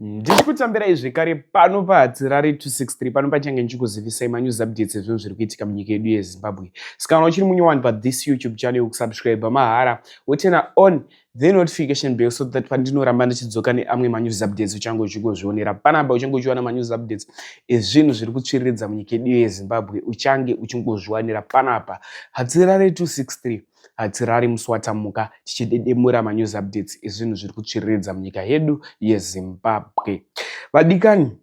ndichikutambirai zvekare pano pahatirari 263 pano pachange ndichikuzivisai manews updates ezvinhu zviri kuitika munyika yedu yezimbabwe sikana uchiri munyowani pathis youtube channel kusubscribe mahara wotena on the notification bell so that pandinoramba ndichidzoka neamwe manews updates uchange uchingozvionera panapa uchange uchiwana manews updates ezvinhu zviri kutsviriridza munyika yedu yezimbabwe uchange uchingozviwanira panapa hatirari 263 Hatirari musi watamuka tichidedemura manews updates ezvinhu zviri kutsviriridza munyika yedu yeZimbabwe. Vadikani,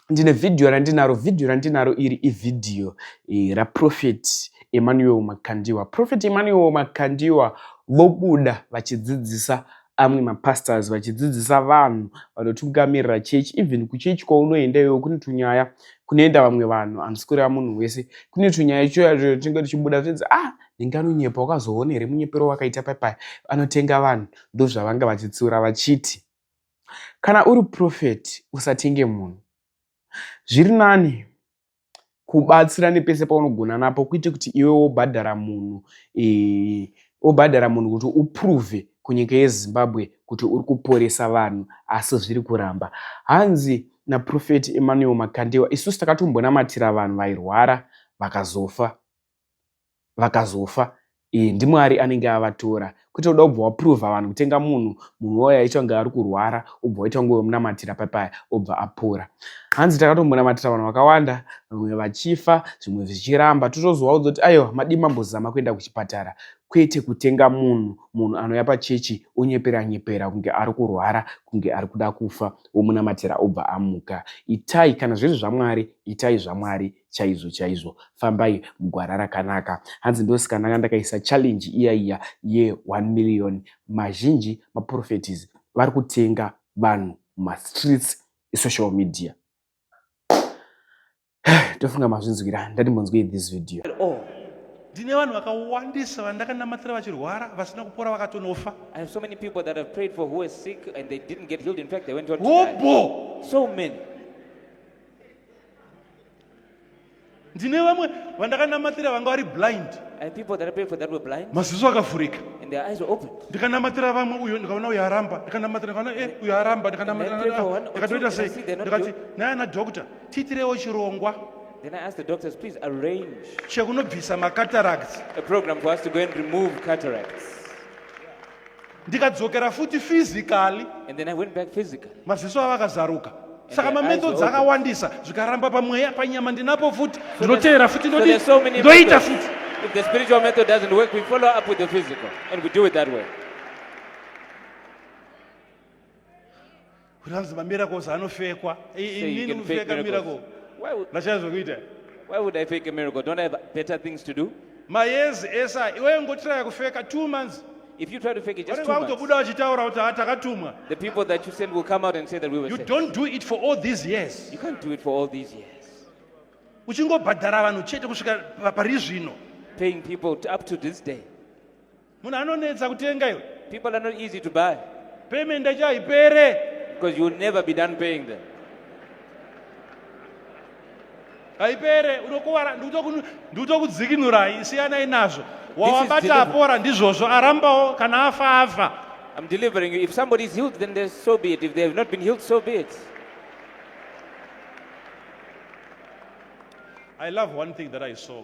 ndine vhidhiyo randinaro. Vhidhiyo randinaro iri ivhidhiyo eh, raProphet Emmanuel Makandiwa. Prophet Emmanuel Makandiwa vobuda vachidzidzisa amwe mapastors vachidzidzisa vanhu vanotungamirira chechi even kuchechi kwaunoenda iwewo kune tunyaya kunoenda vamwe vanhu hamusi kureva munhu wese kune tunyaya choyacho tinge tichibuda tinzi ah Ndinganonyepa wakazoona here munyepero wakaita paipai anotenga vanhu ndozvavanga vachitsiura vachiti kana uri profeti usatenge munhu zviri nani kubatsira nepese paunogona napo kuite kuti iwe wobhadhara munhu e, wobhadhara munhu kuti uprove kunyika yezimbabwe kuti uri kuporesa vanhu asi zviri kuramba hanzi naprofeti emmanuel makandewa isusu takatombonamatira vanhu vairwara vakazofa vakazofa e, ndimwari anenge avatora kwete uda kubva waprova vanhu kutenga munhu munhu wayo aita kunge ari kurwara ubva waita kunge wemunamatira papaya obva apora hanzi takatombonamatira vanhu vakawanda vamwe vachifa zvimwe zvichiramba totozovaudza kuti aiwa madii mambozama kuenda kuchipatara kwete kutenga munhu munhu anouya pachechi onyepera nyepera kunge ari kurwara kunge ari kuda kufa womunamatira obva amuka itai kana zviri zvamwari itai zvamwari chaizvo chaizvo fambai mugwara rakanaka hanzi ndosikananga ndakaisa challenge iya iya ye1 million mazhinji maprofetis vari kutenga vanhu mumastreets esocial media tofunga mazvinzwira ndati munzwei this video ndine vanhu vakawandisa vandakanamatira vachirwara vasina kupora vakatonofa hobho so many ndine vamwe vandakanamatira vanga vari blind maziso akavhurika ndikanamatira vamwe uyo ndikaona uyo aramba ndikanamatira ndikaona e uyo aramba ndikanamatiraikatoita sei ndikati naye ana doctor tiitirewo chirongwa Then I asked the doctors, please arrange chekunobvisa macataracts a program for us to go and remove cataracts. ndikadzokera futi physically and then i went back physically maziso avo akazaruka saka mamethods akawandisa zvikaramba pamweya panyama ndinapo futi ndinoteera futi ndoita futi If the spiritual method doesn't work, we follow up with the physical and we do it that way. kuti anzi mamiracles anofekwa inini kufeka miracle ndachazve kuita why would i fake a miracle don't i have better things to do mayezi esa iwewe ngotiraya kufeka two months If you try to fake it, just two months, the people that you send will come out and say that we were You sent. don't do it for all these years. You can't do it for all these years. Uchingobhadhara vanhu chete kusvika pari zvino. Paying people up to this day. munhu anonetsa kutenga iwe people are not easy to buy payment yacho haipere because you will never be done paying them haipere unokuvara ndikutokudzikinurai siyanai nazvo wawabata apora ndizvozvo arambawo kana afa afa I'm delivering you. If somebody is healed, then so be it. If they have not been healed, so be it. I love one thing that I saw.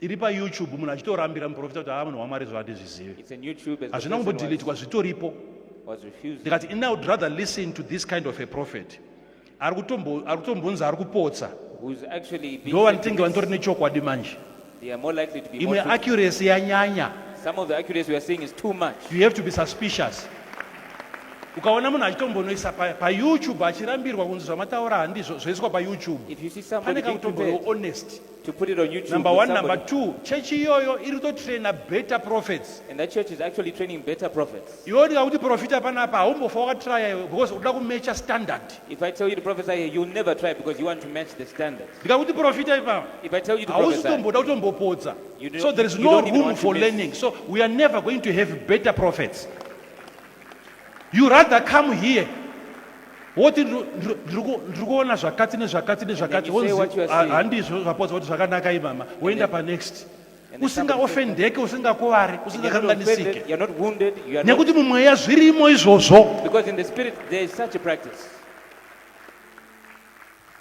iri payoutube munhu achitorambira muprofita kuti haa munhu wamwari zvo handizvizive hazvina kumbodhiletwa zvitoripo ndikati ini would rather listen to this kind of a prophet ari kutombonzi ari kupotsa ndo vanotenge vanitori nechokwadi manje imwe accuracy yanyanya you have to be suspicious ukaona munhu achitombonoisa payoutube pa achirambirwa kunzi zvamataura handizvo zvoiswa payoutube pane kakutomboiwo honest to put it on YouTube. Number one, number two, church iyoyo iri kutotraina better prophets. And that church is actually training better prophets. Iwe ndikakuti profita panapa haumbofa wakatraya iwe because unoda kumecha standard. If I tell you to prophesy here, you'll never try because you want to match the standard. Ndikakuti profita ipapa. If I tell you to prophesy. Hausitomboda kutombopodza. So there is no room for learning. So we are never going to have better prophets. you rather come here woti ndiri kuona zvakati nezvakati nezvakati handizvo zvapodza kuti zvakanaka imama woenda panext usingaofendeke usingakuvari usingakanganisike nekuti mumweya zvirimo izvozvo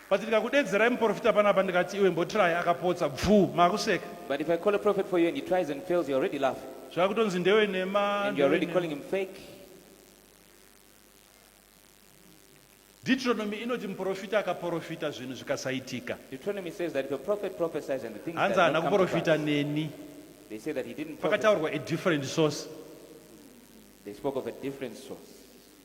But ndikakudedzerai muporofita panapa ndikati iwe mbotry akapotsa bvuu makuseka. But if I call a prophet for you and he tries and fails you're already laughing. Zvakutonzi ndewe nhema. And you're already calling him fake. Deuteronomy inoti muporofita akaporofita zvinhu zvikasaitika. Deuteronomy says that if a prophet prophesies and the things Hanzi haana kuporofita neni. They say that he didn't. Pakataurwa a different source. They spoke of a different source.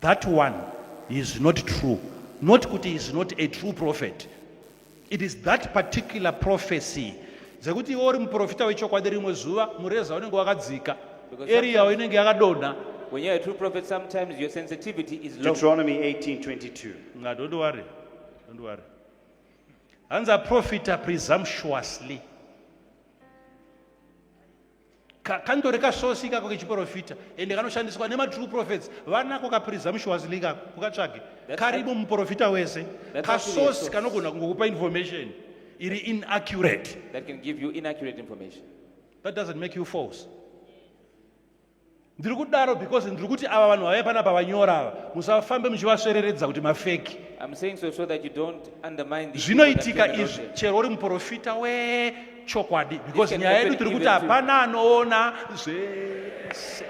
That one is not true. Not kuti is not a true prophet. It is that particular prophecy dzekuti iwe uri muprofita wechokwadi rimwe zuva mureza unenge wakadzika eriyawo inenge yakadonha When you're a true prophet, sometimes your sensitivity is low. Deuteronomy 18 22. Nga, don't worry. Don't worry. Hanza profita presumptuously. kandori kasosi ikako kechiprofita ende kanoshandiswa nematrue prophets vanako kaprizamushi wazili ikako ukatsvage karimo muprofita wese kasosi kanogona kungokupa information iri inaccurate that can give you inaccurate information that doesn't make you false ndiri kudaro because ndiri kuti ava vanhu vavai pana pavanyora ava musafambe muchivasvereredza kuti mafeki zvinoitika izvi chero uri muprofita wechokwadi because nyaya yedu tiri kuti hapana anoona zvese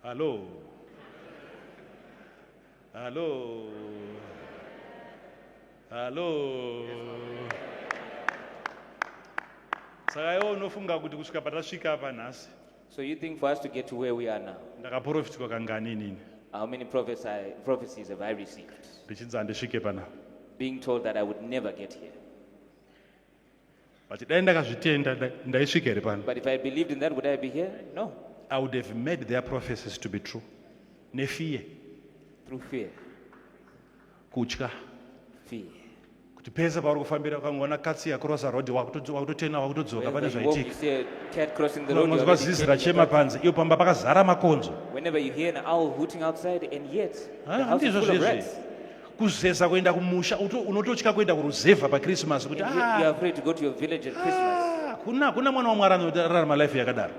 Hello. Hello. Hello. Saka iwe unofunga kuti kusvika patasvika apa nhasi. So you think for us to get to where we are now? Ndakaprofitwa kangani inini? How many prophesy, prophecies have I received? Ndichinzi handisvike pana. Being told that I would never get here. But dai ndakazvitenda ndaisvika here pano? But if I believed in that would I be here? No. I would have made their prophecies to be true. Nefear. Through fear. Kutya. Fear. Kuti pese pauri kufambira ukangoona katsi yakrosa road wakutotena wakutodzoka pane zvaitikaunoziva zizi rachema panze iyo pamba pakazara makonzo. Whenever you hear an owl hooting outside and yet the house is full of rats. kuzeza kuenda kumusha unototya kuenda kuruzevha pakrisimasi kuti ah, ah, kuna kuna mwana wamwari anorarama life yakadaro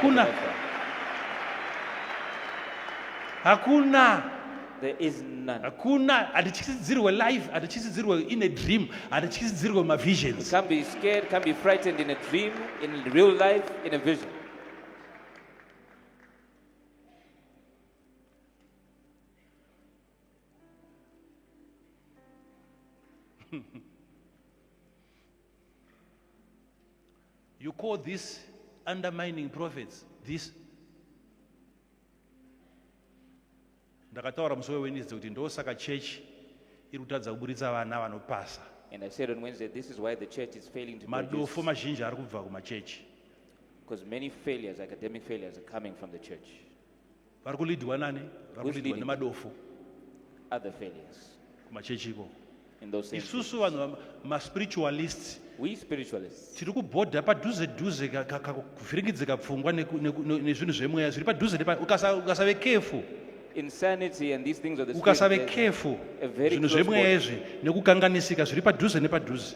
kuna hakuna hakuna hatityisidzirwe life hatityisidzirwe in a dream hatityisidzirwe mavisions you call this undermining prophets this ndakataura musi wewennesday kuti ndosaka church iri kutadza kuburitsa vana vanopasa And I said on Wednesday, this is why the church is failing to produce. madofo mazhinji ari kubva kumachechi Because many failures, academic failures, are coming from the church. vari kulidhwa nani vari kulidhwa nemadofo kumachechi ikoko isusu vanhu maspiritualists tiri kubhodha padhuze dhuze kuvhiringidzika pfungwa nezvinhu zvemweya zviri padhuze ukasave kefu ukasave kefu zvinhu zvemweya izvi nekukanganisika zviri padhuze nepadhuze